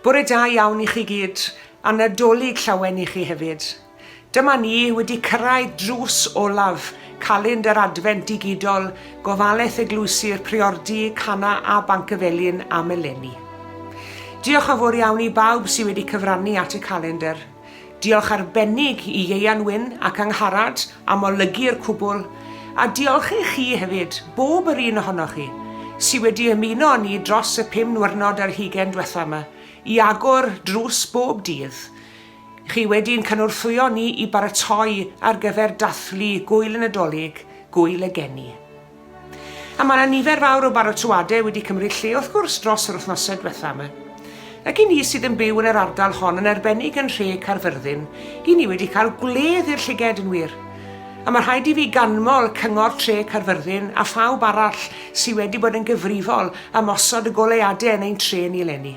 Bore da iawn i chi gyd, a Nadolig llawen i chi hefyd. Dyma ni wedi cyrraedd drws olaf calend yr Adfent digidol, gofalaeth eglwysi'r Priordy, Cana a Banc y Felin am eleni. Diolch yn fawr iawn i bawb sydd wedi cyfrannu at y calendr. Diolch arbennig i Ieuan Wyn ac Angharad am olygu'r cwbl, a diolch i chi hefyd, bob yr un ohonoch chi, sydd wedi ymuno â ni dros y pum nwyrnod ar hugain dwetha yma, i agor drws bob dydd. Chi wedi ein cynorthwyo ni i baratoi ar gyfer dathlu Gŵyl y Nadolig, Gŵyl y Geni. A mae 'na nifer fawr o barotoadau wedi cymryd lle wrth gwrs dros yr wythnosau diwetha' yma. Ac i ni sydd yn byw yn yr ardal hon yn arbennig yn nhre Caerfyrddin, i ni wedi cael gwledd i'r llyged yn wir. A mae rhaid i fi ganmol Cyngor Tre Caerfyrddin a phawb arall sy wedi bod yn gyfrifol am osod y goleuadau yn ein tre ni eleni.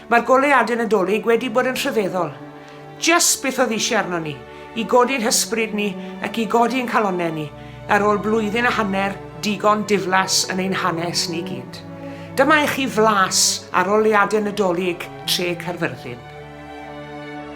Mae'r goleuadau Nadolig wedi bod yn rhyfeddol. Jyst beth oedd eisiau arnon ni, i godi'n hysbryd ni ac i godi ein calonnau ni ar ôl blwyddyn a hanner digon diflas yn ein hanes ni gyd. Dyma i chi flas ar oleuadau Nadolig Tre Caerfyrddin.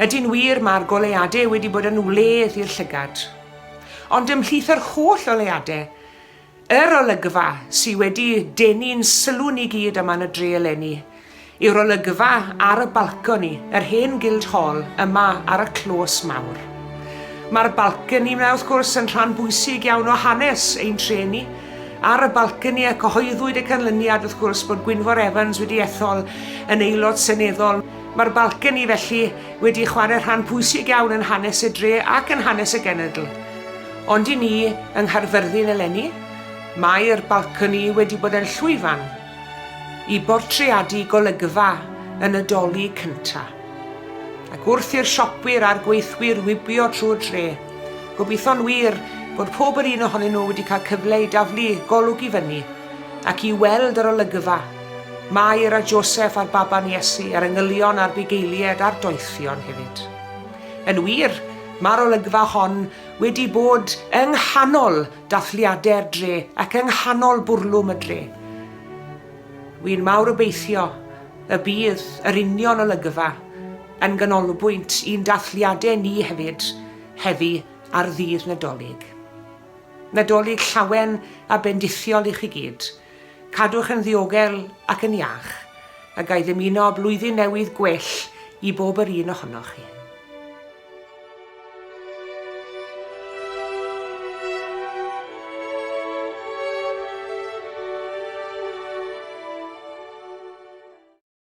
Ydy'n wir, mae'r goleuadau wedi bod yn wledd i'r llygad. Ond ymhlith yr holl oleuadau, yr olygfa sydd wedi denu'n sylw ni gyd yma yn y dre eleni yw'r olygfa ar y balconi yr hen Guildhall yma ar y clos mawr. Mae'r balconi yma, wrth gwrs, yn rhan bwysig iawn o hanes ein tre ni. Ar y balconi y cyhoeddwyd y canlyniad, wrth gwrs, bod Gwynfor Evans wedi ethol yn aelod seneddol. Mae'r balcony, felly, wedi chwarae rhan pwysig iawn yn hanes y dre ac yn hanes y genedl. Ond i ni, yng Nghaerfyrddin eleni, mae'r balcony wedi bod yn llwyfan i bortreadu golygfa y Nadolig cynta'. Ac wrth i'r siopwyr a'r gweithwyr wibio trwy'r dre, gobeithio'n wir bod pob yr un ohonyn nhw wedi cael cyfle i daflu golwg i fyny Ac i weld yr olygfa, Mair a Joseff a'r baban Iesu, a'r engylion a'r bugeilied a'r doethion hefyd. Yn wir, mae'r olygfa hon wedi bod yng nghanol dathliadau'r dre ac yng nghanol bwrlwm y dre. Wi'n mawr obeithio y bydd yr union olygfa yn ganolbwynt i'n dathliadau ni hefyd heddi ar Ddydd Nadolig. Nadolig llawen a bendithiol i chi gyd. Cadwch yn ddiogel ac yn iach, a ga i ddymuno blwyddyn newydd gwell i bob yr un ohonoch chi.